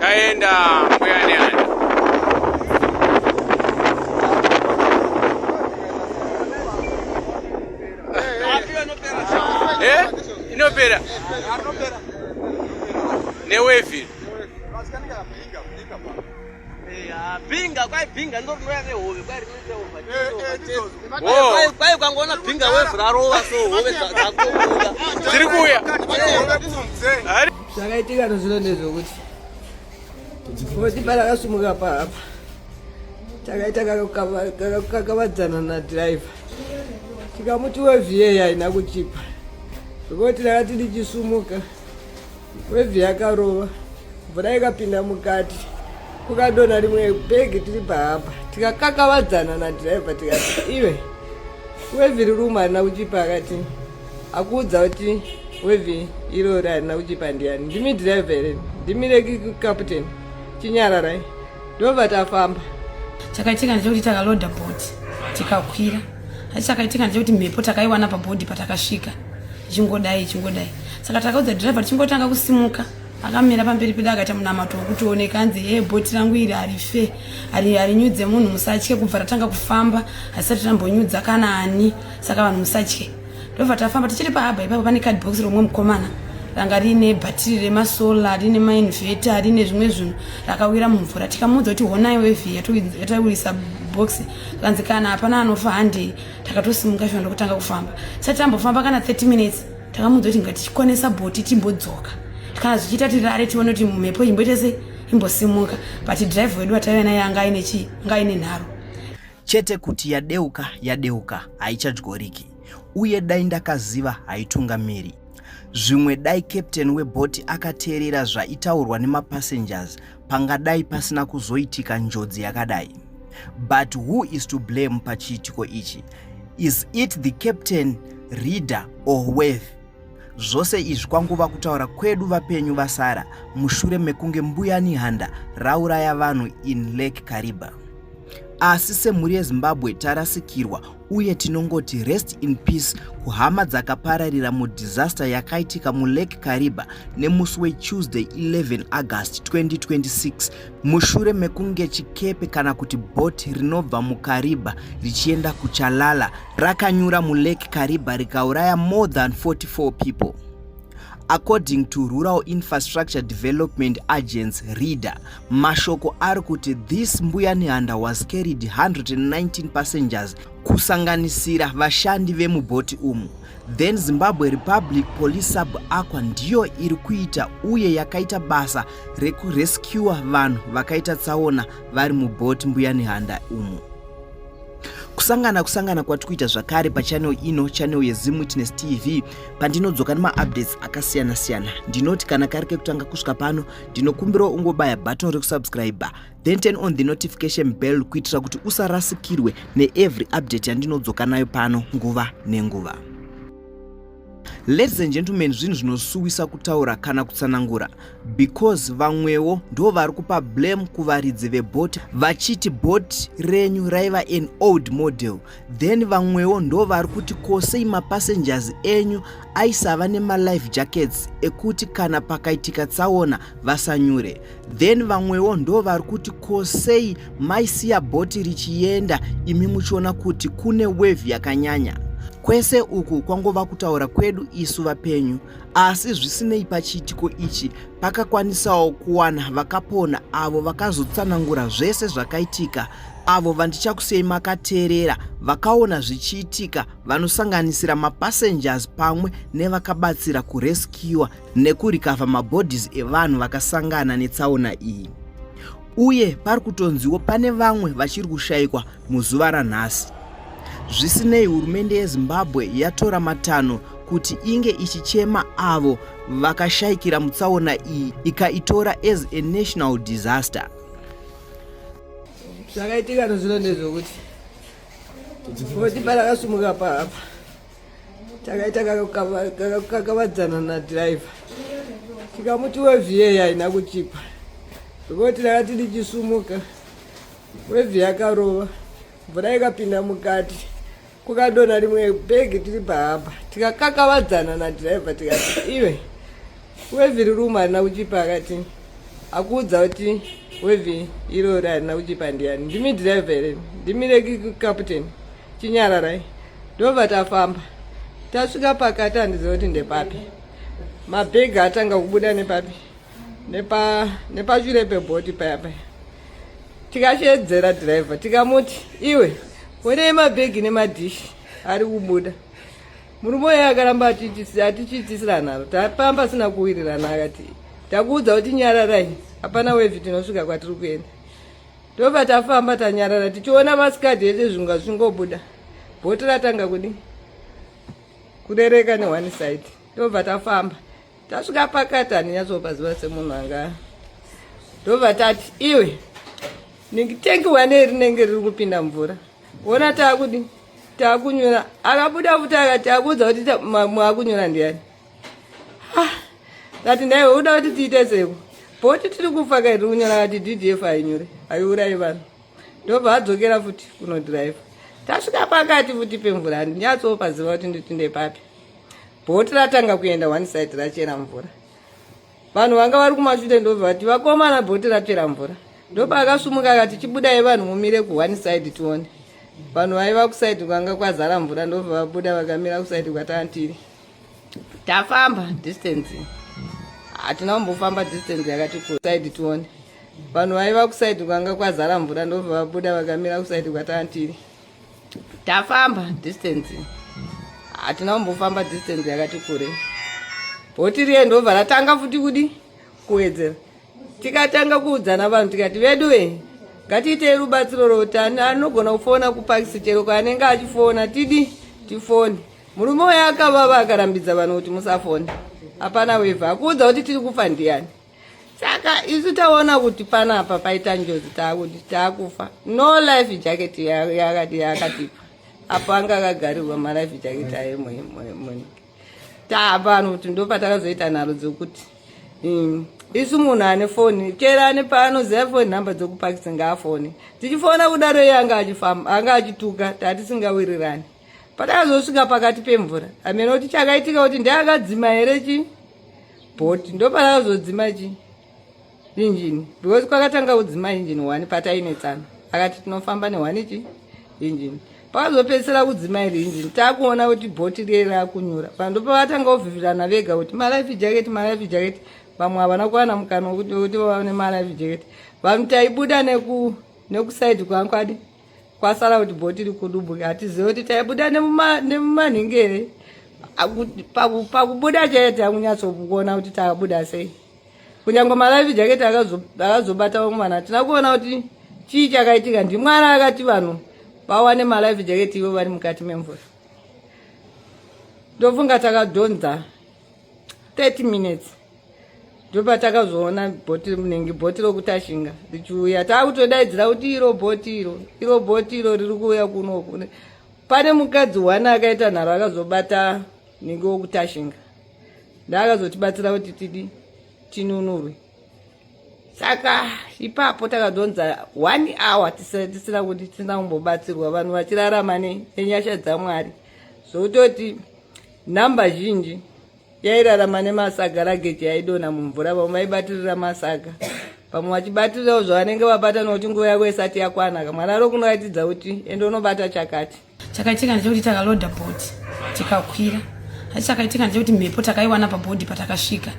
Chaenda mbuya neana. Eh? Inopera. Newevil. Binga kwai binga ndo rinouya nehove kwai rinoita hova kwai kwai ukangoona binga wevhu rarova so hove dzakobuda dziri kuuya zvakaitika tozvino ndezvokuti foti parakasumuka paapa takaita kakakavadzana nadhiraivha tikamuti wevhiyeyi haina kuchipa zvekuti takati ndichisumuka Wave yakarova, mvura ikapinda mukati, kukadona rimwe bhegi tiri pahapa, tikakakavadzana nadhiraivha tikati iwe wave riri umu harina kuchipa akati akuudza kuti wave irori harina kuchipa ndiani ndimi dhiraivha here ndimi rekikaputeni chinyararai ndobva tafamba chakaitika ndechekuti takaloda bhoti tikakwira asi chakaitika ndechekuti mhepo takaiwana pabhodhi patakasvika ichingodai ichingodai saka takaudza dhirevha tichingotanga kusimuka akamira pamberi pedu akaita munamato wekutioneka anzi ee bhoti rangu iri harife harinyudze munhu musatye kubva ratanga kufamba hasisati rambonyudza kana ani saka vanhu musatye ndobva tafamba tichiri pahaba ipapo pane card box romwe mukomana ranga riine bhatiri remasola riine mainveta riine zvimwe zvinhu rakawira mumvura tikamuudza kuti honai wevhi yataurisa box kanzi kana hapana anofa handei takatosimuka shona ndokutanga kufamba sati tambofamba kana 30 minutes takamuudza kuti ngatichikonesa bhoti timbodzoka kana zvichiita tirare tione kuti mhepo imboita se imbosimuka but drive wedu ataive naye anga aine chii anga aine nharo chete kuti yadeuka yadeuka haichadyoriki uye dai ndakaziva haitungamiri zvimwe dai captain webhoti akateerera zvaitaurwa nemapassengers pangadai pasina kuzoitika njodzi yakadai but who is to blame pachiitiko ichi is it the captain reader or wave Zvose izvi kwangova kutaura kwedu vapenyu vasara mushure mekunge mbuya Nihanda rauraya vanhu in Lake Kariba. Asi semhuri yeZimbabwe tarasikirwa uye tinongoti rest in peace kuhama dzakapararira mudisaster yakaitika mulake kariba nemusi wetuesday 11 august 2026 mushure mekunge chikepe kana kuti bhoti rinobva mukariba richienda kuchalala rakanyura mulake kariba rikauraya more than 44 people according to rural infrastructure development agents reader mashoko ari kuti this mbuya nehanda was carried 119 passengers kusanganisira vashandi vemubhoti umu then zimbabwe republic police sub aqua ndiyo iri kuita uye yakaita basa rekurescua vanhu vakaita tsaona vari mubhoti mbuya nehanda umu kusangana kusangana kwati kuita zvakare pachanel ino chanel yezim witness tv pandinodzoka nemaupdates akasiyana siyana ndinoti kana kari kekutanga kusvika pano ndinokumbirawo ungobaya button rekusubscribe then turn on the notification bell kuitira kuti usarasikirwe neevery update yandinodzoka nayo pano nguva nenguva Ladies and gentlemen, zvinhu zvinosuwisa kutaura kana kutsanangura because vamwewo ndo vari kupa blame kuvaridzi vebhoti vachiti bhoti renyu raiva an old model then vamwewo ndo vari kuti kosei mapassengers enyu aisava nemalife jackets ekuti kana pakaitika tsaona vasanyure then vamwewo ndo vari kuti ko sei maisiya bhoti richienda imi muchiona kuti kune wevhi yakanyanya kwese uku kwangova kutaura kwedu isu vapenyu asi zvisinei pachiitiko ichi pakakwanisawo kuwana vakapona avo vakazotsanangura zvese zvakaitika avo vandichakusei makateerera vakaona zvichiitika vanosanganisira mapassengers pamwe nevakabatsira kureskiwa nekurikavha mabodies evanhu vakasangana netsaona iyi uye pari kutonziwo pane vamwe vachiri kushayikwa muzuva ranhasi zvisinei hurumende yezimbabwe yatora matanho kuti inge ichichema avo vakashayikira mutsaona iyi ikaitora as a national disaster zvakaitika tozvino ndezvokuti kuti parakasumuka paapa takaita kakavadzana nadriver tikamuti wevhiye haina kuchipa zvekuti takati ndichisumuka wevhi yakarova mvura ikapinda mukati kukadona rimwe bhegi tiri pahamba tikakakavadzana nadriver tikati iwe wevhi rirumu harina kuchipa akati akuudza kuti wevhi irori harina kuchipa ndiyani ndimi driver here ndimi reki captain chinyararai ndobva tafamba tasvika pakati handiziva kuti ndepapi mabhegi atanga kubuda nepapi nepashure pebhoti paya paya tikashedzera dhiraivha tikamuti iwe onei mabhegi nemadhishi ari kubuda murume uye akaramba atichiitisira nharo tapamba asina kuwirirana akati takuudza kuti nyararai hapana wevhi tinosvika kwatiri kuenda Tobva tafamba tanyarara tichiona masikadhi ese zvunga zvingobuda. Bhoti ratanga kudii? Kurereka ne one side. Tobva tafamba. Tasvika pakati handinyatsopaziva semunhu anga. Tobva tati iwe ndikitengi wane rinenge riri kupinda mvura. Wona taakudii? Taakunyura. Akabuda futi akati akuudza kuti mwaakunyura ndiani? ah, ngati ndaiwe uda kuti tiite seko bhoti tiri kufa kaiti kunyora ngati ddf hainyore haiurayi vanhu ndobva adzokera futi kunodhiraivha tasvika pakati futi pemvura handinyatsopaziva kuti nditinde papi bhoti ratanga kuenda one side rachera mvura vanhu vanga vari kumashure ndobva vati vakomana bhoti rachera mvura ndopa akasumuka akati chibudai vanhu mumire ku one side tione vanhu vaiva kusaidi kwanga kwazara mvura ndobva vabuda vakamira kusaidi kwatantiri tafamba distance hatina kumbofamba distance yakati kusaidi tione vanhu vaiva kusaidi kwanga kwazara mvura ndobva vabuda vakamira kusaidi kwatantiri tafamba distance hatina kumbofamba distance yakati kure bhoti riye ndobva ratanga futi kudi kuwedzera tikatanga kuudzana vanhu tikati vedu ve ngatiitei rubatsiro routano anogona kufona kupakisi chero kwaanenge achifona tidi tifone Murume uyo akavava akarambidza vanhu kuti musafone. Hapana weva akuudza kuti tiri kufa ndiyani. Saka isu taona kuti panapa paita njozi taakuti taakufa. No life jacket yakati yakatipa. Apo anga akagarirwa ma life jacket ayo mwe. Taapano kuti ndopatakazoita nharo dzokuti. Mm. isu munhu ane foni chera ane paanoziva foni nhamba dzokupakisa ngaafone tichifona kudaro iye anga achifamba anga achituka tatisingawirirani Patakazosvika pakati pemvura, amene kuti chakaitika kuti ndakadzima here chi boat ndopatakazodzima chi injini because kwakatanga kudzima injini one patainetsana akati tinofamba nehwani chi injini pakazopedzisira kudzima iri injini takuona kuti bhoti riye rakunyura pando pavatanga kuvhivirana vega kuti malife jacket malife jacket vamwe havana kuwana mukana wekuti vaone malife jacket vanhu taibuda neku nekusaidi kwangu adi kwasara kuti bhoti rikudubuka hatizive kuti taibuda nemumanhingere pakubuda chaiye takunyatsokuona kuti takabuda sei kunyange malive jacket akazobata vamwe vanhu hatina kuona kuti chii chakaitika ndimwari akati vanhu vawane malive jacket ivo vari mukati memvura ndofunga takadhonza 30 minutes ndopatakazoona bhoti rinenge bhoti rokutashinga richiuya taakutodaidzira kuti iro bhoti iro iro bhoti iro riri kuuya kunoku pane mukadzi one akaita nharo akazobata nenge wokutashinga ndaakazotibatsira kuti tidi tinunurwe saka ipapo takadonza one hour tisina kuti tisina kumbobatsirwa vanhu vachirarama nenyasha dzamwari zvokutoti nhamba zhinji yairarama nemasaga rageji yaidona mumvura vamwe vaibatirira masaga vamwe vachibatirirawo zvavanenge vabata nokuti nguva yavo isati yakwana kamwana ro kunoratidza kuti ende unobata chakati chakaitika ndechekuti takaloda bhodhi tikakwira asi chakaitika ndechekuti mhepo takaiwana pabhodhi patakasvika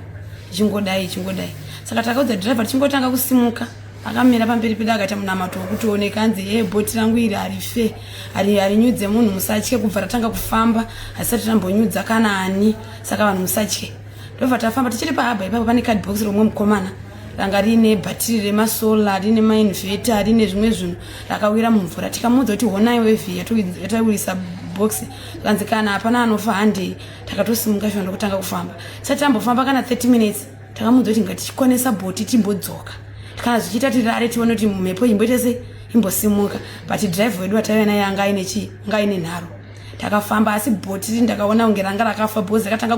ichingodai ichingodai saka takaudza dhiraiva tichingotanga kusimuka akamira pamberi pedu akaita munamato wekuti oneka anzi hee bhoti rangu iri harife harinyudze munhu musatye kubva ratanga kufamba hasisati rambonyudza kana ani saka vanhu musatye ndobva tafamba tichiri pahaba ipapo pane cadbox romwe mukomana ranga riine bhatiri remasola riine mainveta riine zvimwe zvinhu rakawira mumvura tikamuudza kuti honai wevi yataiwirisa box kanzi kana hapana anofa handei takatosimuka shona ndokutanga kufamba sati tambofamba kana 30 minutes takamuudza kuti ngatichikwanisa bhoti timbodzoka kana zvichiita tirare tione kuti mhepo imboita se imbosimuka but drive wedu wataiva naye anga aine chii anga aine nharo takafamba asi bhoti ndakaona kunge ranga rakafa bhozi rakatanga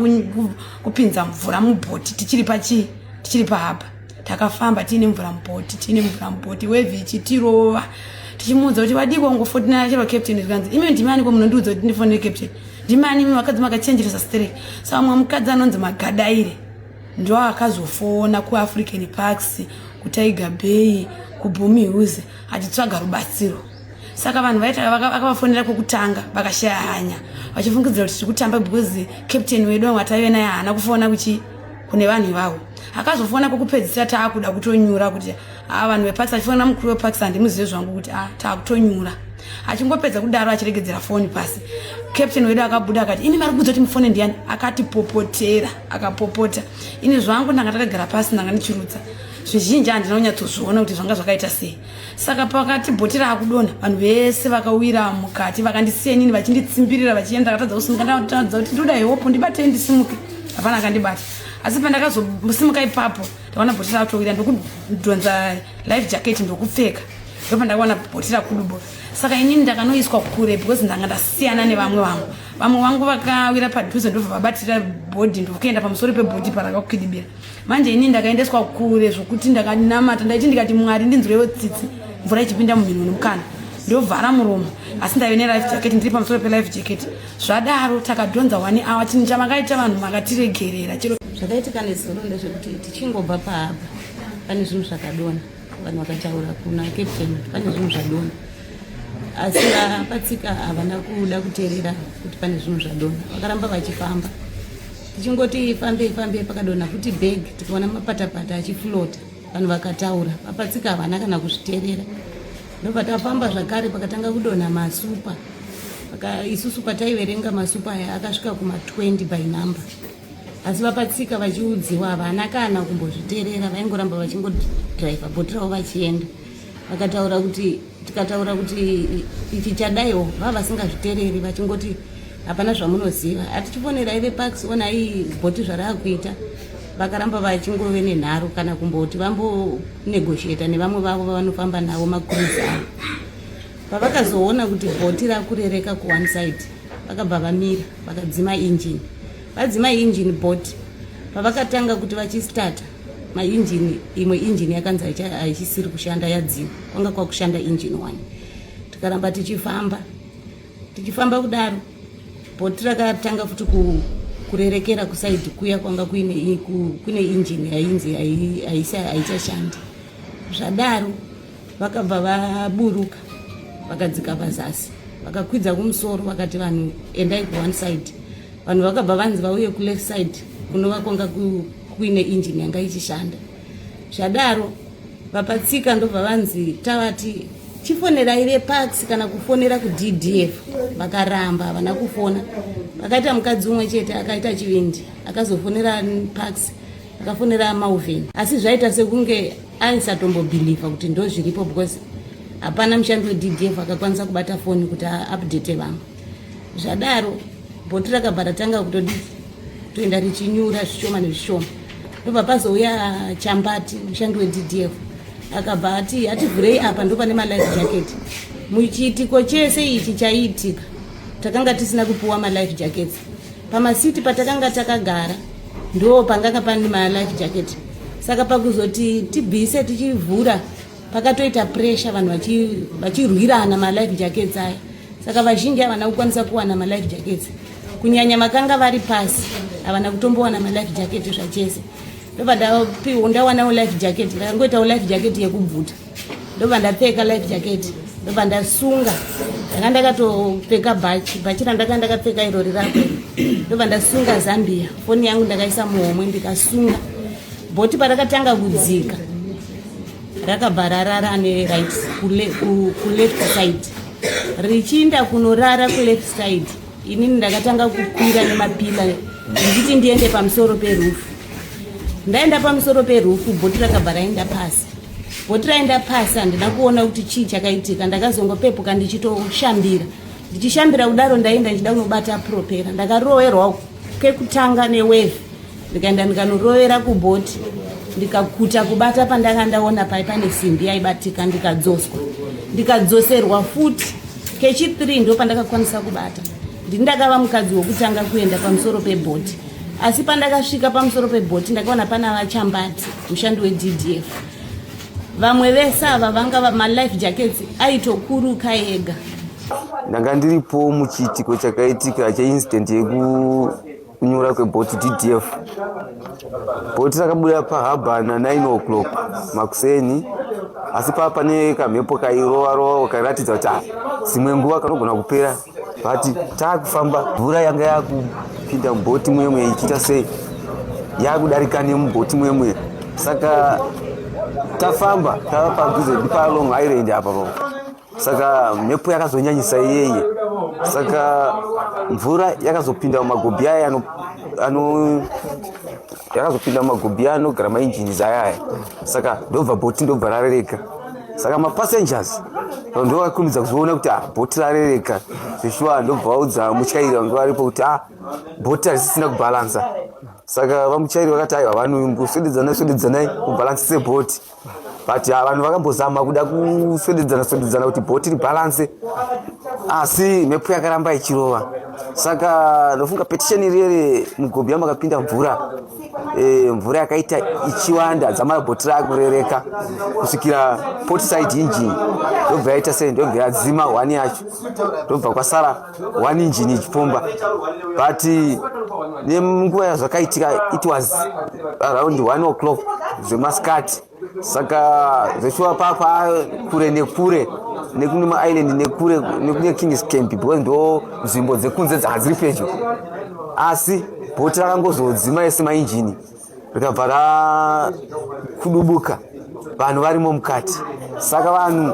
kupinza mvura mubhoti tichiri pachii tichiri pahaba takafamba tiine mvura mubhoti tiine mvura mubhoti wevhi ichitirova tichimuudza kuti vadiko ngofotinana chero captain zvikanzi imi ndimaniko munondiudza kuti ndifonere captain ndimani imi vakadzi makachenjeresa sterek sa vamwe mukadzi anonzi magadaire ndoakazofona kuAfrican Parks, kuTiger Bay, kuBomi Hills achitsvaga rubatsiro. Saka vanhu vaita vakavafonera kwekutanga vakashaya hanya vachifungidzira kuti tiri kutamba because captain wedu wanga taive naye haana kufona kuchi kune vanhu ivavo. Akazofona kwekupedzisira taakuda kutonyura kuti haa vanhu veparks achifonera mukuru weparks handimuzive zvangu kuti a ah, taakutonyura achingopedza kudaro achiregedzera foni pasi captain wedu akabuda akati ini mari kuzoti mufone ndiyani akatipopotera akapopota ini zvangu ndanga takagara pasi ndanga ndichirutsa zvizhinji handina kunyatsozviona kuti zvanga zvakaita sei saka pakati bhoti raakudonha vanhu vese vakawira mukati vakandisiya inini vachinditsimbirira vachienda ndakatadza kusimuka ndakatadza kuti ndoda heopo ndibatei ndisimuke hapana akandibata asi pandakazosimuka ipapo ndaona bhotira atoira ndokudhonza life jacket ndokupfeka ndopa ndakaona bhotira kudubo saka inini ndakanoiswa kure because ndanga ndasiyana nevamwe vangu vamwe vangu vakawira padhuze ndobva vabatira bhodhi ndokuenda pamusoro pebhodhi parakakwidibira manje inini ndakaendeswa kure zvokuti ndakanamata ndaiti ndikati mwari ndinzwirewo tsitsi mvura ichipinda mumhino nemukana ndovhara muromo asi ndave nelife jacket ndiri pamusoro pelife jacket zvadaro takadhonza wani awa chinhu chamakaita vanhu makatiregerera chero zvakaitika nezuro ndezvekuti tichingobva paapa pane zvinhu zvakadona vanhu vakataura kuna captain pane zvinhu zvadona asi vapatsika havana kuda kuteerera kuti pane zvinhu zvadona vakaramba vachifamba tichingoti fambei fambei pakadona futi bag tikaona mapatapata achiflota vanhu vakataura vapatsika havana kana kuzviteerera ndobva tafamba zvakare pakatanga kudonha masupa isusu pataiverenga masupa aya akasvika kuma 20 by number asi vapatsika vachiudziwa havana kana kumbozviterera vaingoramba vachingodriva bhoti ravo vachienda vakataura kuti tikataura kuti ichi chadaiwo vava vasingazvitereri vachingoti hapana zvamunoziva hatichifonera ive pax onai bhoti zvaraakuita vakaramba vachingove nenharo kana kumboti vambonegosheta nevamwe vavo vavanofamba navo makuruzi avo pavakazoona kuti bhoti rakurereka kuone side vakabva vamira vakadzima injini vadzima injini bhoti pavakatanga kuti vachistata mainjini imwe injini yakanzi haichisiri kushanda yadzima kwanga kwakushanda injini one tikaramba tichifamba tichifamba kudaro bhoti rakatanga futi kurerekera kusaidi kuya kwanga kuine kune injini yainzi haichashandi zvadaro vakabva vaburuka vakadzika pazasi vakakwidza kumusoro vakati vanhu endai kuone side vanhu vakabva vanzi vauye kuleft side kunova kwanga kuine injini yanga ichishanda zvadaro vapatsika ndobva vanzi tavati chifonerai vepax kana kufonera kuddf vakaramba havana kufona vakaita mukadzi umwe chete akaita chivindi akazofonera pax akafonera mauven asi zvaita sekunge aisatombobhilivha kuti ndozviripo because hapana mushandi weddf akakwanisa kubata foni kuti aupdate vamwe zvadaro bhoti rakabva ratanga kutodii toenda richinyura zvishoma nezvishoma ndobva pazouya chambati mushandi weddf akabva ati hativhurei apa ndopane malife jacket muchiitiko chese ichi chaiitika takanga tisina kupiwa malife jackets pamasiti patakanga takagara ndo panganga pane malife jacket saka pakuzoti tibvise tichivhura pakatoita pressure vanhu vachirwirana vachi malife jackets aya saka vazhinji havana kukwanisa kuwana malife jackets kunyanya vakanga vari pasi havana kutombowana malife jacket zvachese ndobva ndapiwo ndawanawo life jacket ndakangoitawo life jacket yekubvuta ndobva ndapfeka life jacket ndobva ndasunga ndanga ndakatopfeka bhachi bhachi randaka ndakapfeka irori rako ndobva ndasunga zambia foni yangu ndakaisa muhomwe ndikasunga bhoti parakatanga kudzika rakabva rarara ane right kuleft side richiinda kunorara kuleft side inini ndakatanga kukwira nemapila ndichiti ndiende pamusoro perufu ndaenda pamusoro perufu bhoti rakabva raenda pasi bhoti raenda pasi handina kuona kuti chii chakaitika ndakazongopepuka ndichitoshambira ndichishambira kudaro ndaenda ndichida kunobata propera ndakarowerwa kekutanga neweve ndikaenda ndikanorovera kubhoti ndikakuta kubata pandanga ndaona pai pane simbi yaibatika ndikadzoswa ndikadzoserwa futi kechi 3 ndo pandakakwanisa kubata ndini ndakava mukadzi wokutanga kuenda pamusoro pebhoti asi pandakasvika pamusoro pebhoti ndakaona pana vachambati mushandi weddf vamwe vese ava vanga malife jackets aitokuruka ega ndanga ndiripo muchiitiko chakaitika cheincident yeku kunyura kwebhoti ddf bhoti rakabuda pahaba na 9 o'clock makuseni asi pava pane kamhepo kairova rova kairatidza kuti dzimwe nguva kanogona kupera vati taakufamba mvura yanga yakupinda mubhoti mwemwe ichiita sei yakudarika nemubhoti mwemwe saka tafamba tava padhuze dipalong island apa pavo saka mhepo yakazonyanyisa iyeye saka mvura yakazopinda mumagobhi aya yakazopinda mumagobhi aya anogara mainjini ayaya saka ndobva bhoti ndobva rarereka saka mapassengers ndo vakurumidza kuzoona kuti ah, bhoti rarereka zveshuwa ndobva vaudza mutyairi vange varipo kuti a ah, bhoti harisisina kubhalansa saka vamuchairi vakati aiwa vanhu kuswededzanai swededzanai kubhalansise bhoti but ah, vanhu vakambozama kuda kuswededzana swededzana kuti bhoti ribalanse asi mhepo yakaramba ichirova saka ndofunga petition iriyere mugobhi yamakapinda mvura eh, mvura yakaita ichiwanda dzamara bhoti raakurereka kusvikira potside engine ndobva yaita sei ndobva yadzima hwani yacho ndobva kwasara one engine ichipomba but nenguva yazvakaitika it was around one o'clock zvemasikati saka zveshuwa papa kure nekure nekune maisland nekure nekune kings camp because ndo nzvimbo dzekunze dzanga dziri pedyo asi bhoti rakangozodzima ese mainjini rikabva rakudubuka vanhu varimo mukati saka vanhu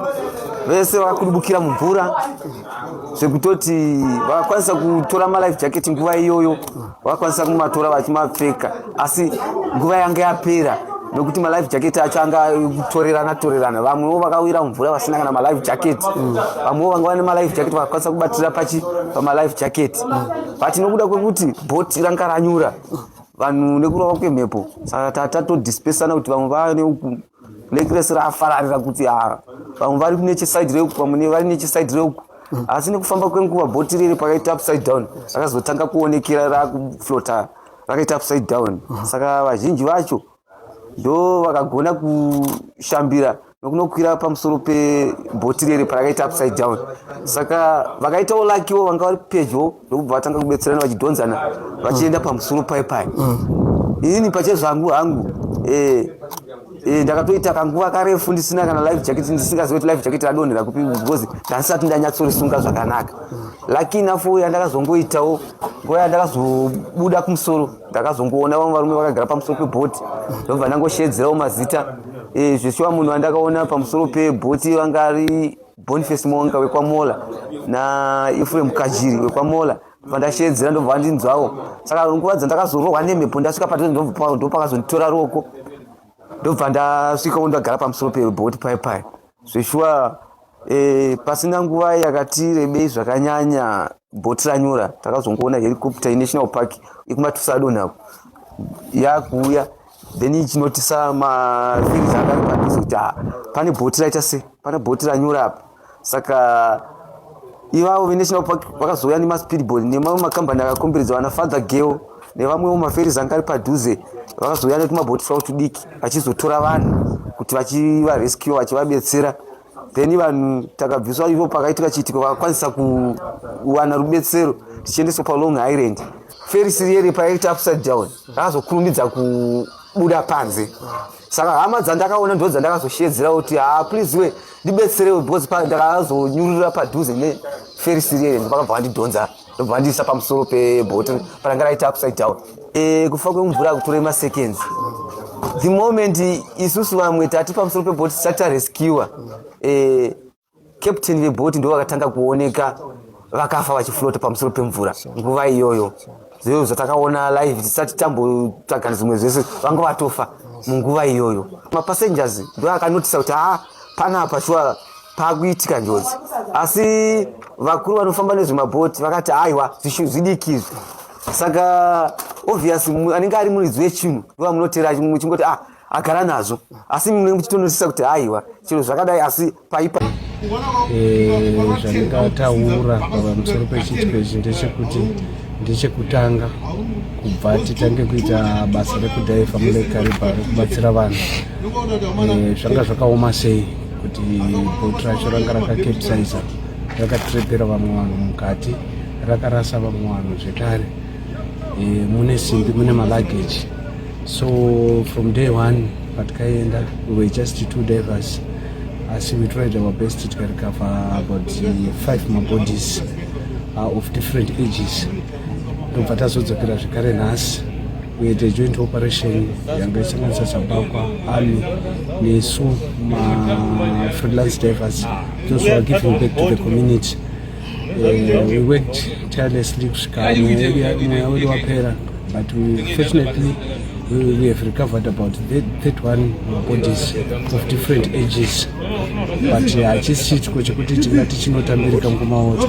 vese vakudubukira mumvura zvekutoti vakakwanisa kutora malife jacket nguva iyoyo vakakwanisa kumatora vachimapfeka asi nguva yanga yapera nokuti malife jacket acho anga kutorerana torerana vamwewo vakawira mumvura vasina kana malife jacket vamwewo vanga vane malife jacket vakakwanisa kubatira pachi pamalife jacket but nokuda kwekuti bot ranga ranyura vanhu nekurova kwemhepo saka tatodispesana kuti vamwe vane uku necres rafararira kuti ah, vamwe vari nechesaidi reuku vamwe vari nechesaidi reuku asi nekufamba kwenguva bhoti riri pakaita upside down rakazotanga kuonekera rakuflota rakaita upside down saka vazhinji vacho ndo vakagona kushambira nokunokwira pamusoro pebhoti rere parakaita upside down saka vakaitawo lakiwo vanga vari pedyo ndokubva vatanga kubetserana vachidhonzana vachienda pamusoro pai pai inini pachezvangu hangu eh, eh, ndakatoita kanguva karefu ndisina kana life jacket ndisingazive kuti life jacket radonhera kupi because ndandisati ndanyatsorisunga zvakanaka laki inafo yandakazongoitawo nguva yandakazobuda kumusoro ndakazongoona vamwe varume vakagara pamusoro pebhoti ndobva ndangosheedzerawo mazita eh, zveshuwa munhu wandakaona pamusoro pebhoti vanga ari boniface monga wekwamola naefrem kajiri wekwamola pandasheedzera ndobva vandinzwawo saka nguva dzandakazorohwa nemhepo ndasvika patozi ndopakazonditora ruoko ndobva ndasvikawo ndagara pamusoro pebhoti pai pai zveshuwa eh, pasina nguva yakati rebei zvakanyanya bhoti ranyura takazongoona helicopter yenational park ikumatusa adonhako yakuuya then ichinotisa mavillage akari padhuze kuti ha pane bhoti raita se pane bhoti ranyura apa saka ivavo venational park vakazouya nemaspeedball nemamwe makambani akakomberedza vana father geo nevamwewo maferis anga ari padhuze vakazouya netumabhoti twavo tudiki vachizotora vanhu kuti vachivarescue vachivabetsera then vanhu takabviswa ivo pakaitika chiitiko vakakwanisa kuwana rubetsero tichiendeswa palong island feri sirieri payaita upside down akazokurumidza kubuda panze saka hama dzandakaona ndo dzandakazoshedzera kuti ha ah, please we ndibetserewo because pa ndakazonyurura padhuze neferi sirieri ndipakabva vandidhonza ndobva andiisa pamusoro pebottle paranga raita upside down e, kufa kwemvura akutora maseconds the moment isusu vamwe tati pamusoro pebot tisati tarescuwa e, eh, captain vebot ndo vakatanga kuoneka vakafa vachiflota pamusoro pemvura nguva iyoyo zveyo zvatakaona live tisati tambotsvaga zvimwe zvese vanga vatofa munguva iyoyo mapassengers ndo akanotisa kuti haa ah, panapa shuwa pakuitika njodzi asi vakuru vanofamba nezvemabhoti vakati haiwa zvidiki izvi saka obvious anenge ari muridzi wechinhu ndova munotera muchingoti ah agara nazvo asi mune muchitonosisa kuti haiwa chero zvakadai asi paipa eh, zvandingataura pamusoro pechiitiko ichi ndechekuti ndechekutanga kubva titange kuita basa rekudhaiva mune karibha rekubatsira vanhu eh, zvanga zvakaoma sei kuti bhoti racho ranga rakakepsaiza rakatrepera vamwe vanhu mukati rakarasa vamwe vanhu zvekare e, mune simbi mune malageji so from day one patikaenda we were just two divers asi we tried our best tikarecover about five mabodies uh, of different ages tobva tazodzokera zvekare nhasi kuita joint operation yanga isanganisa zambakwa army nesu mafreelance divers those were giving back to the community uh, we worked tirelessly kusvika mweya wedu wapera but we, fortunately we, we have recovered about 31 bodies of different ages but hachisi uh, chitiko chekuti tingati chinotambirika ngumaoto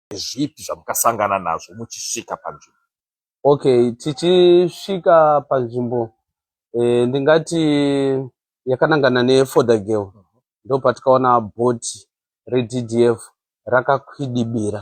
Ndezvipi zvamukasangana nazvo muchisvika panzvimbo? Okay, tichisvika panzvimbo eh, ndingati yakanangana neFodder Girl mhm. ndopatikaona bhoti reDDF rakakwidibira